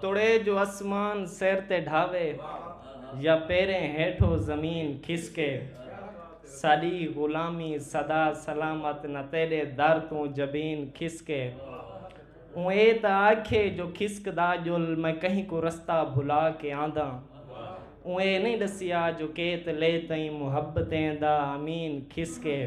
توڑے جو اسمان سر تے ڈھاوے یا پیریں ہیٹھو زمین کھسکے ساڈی غلامی سدا سلامت نہ تیڈے در توں جبین کھسکے اوں اے تاں آکھے جو کھسکدا جل میں کہیں کوں رستہ بھلا کے آنداں اوں اے نہیں ڈسیا جو کیت لے تئیں محبتیں دا امین کھسکے۔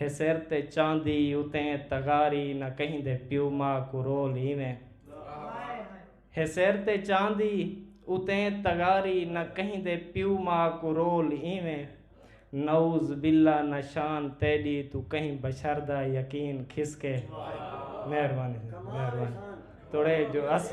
ہے سر تے چاندی اتیں تغاری نہ کہیں دے پیو ماء کوں رول ایویں۔ ہے سر تے چاندی اتیں تغاری نہ کہیں دے پیو ماء کوں رول ایویں۔ نعوذ باللہ نہ شان تیڈی توں کہیں بشر دا یقین کھسکے۔ مہربانی مہربانی توڑے جو اس۔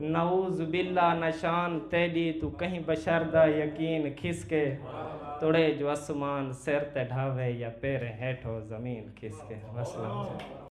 نعوذ باللہ نشان تیڈی تو کہیں بشر دا یقین کھس کے تڑے جو اسمان سر تے ڈھاوے یا پیریں ہیٹھو زمین کھس کے وسلام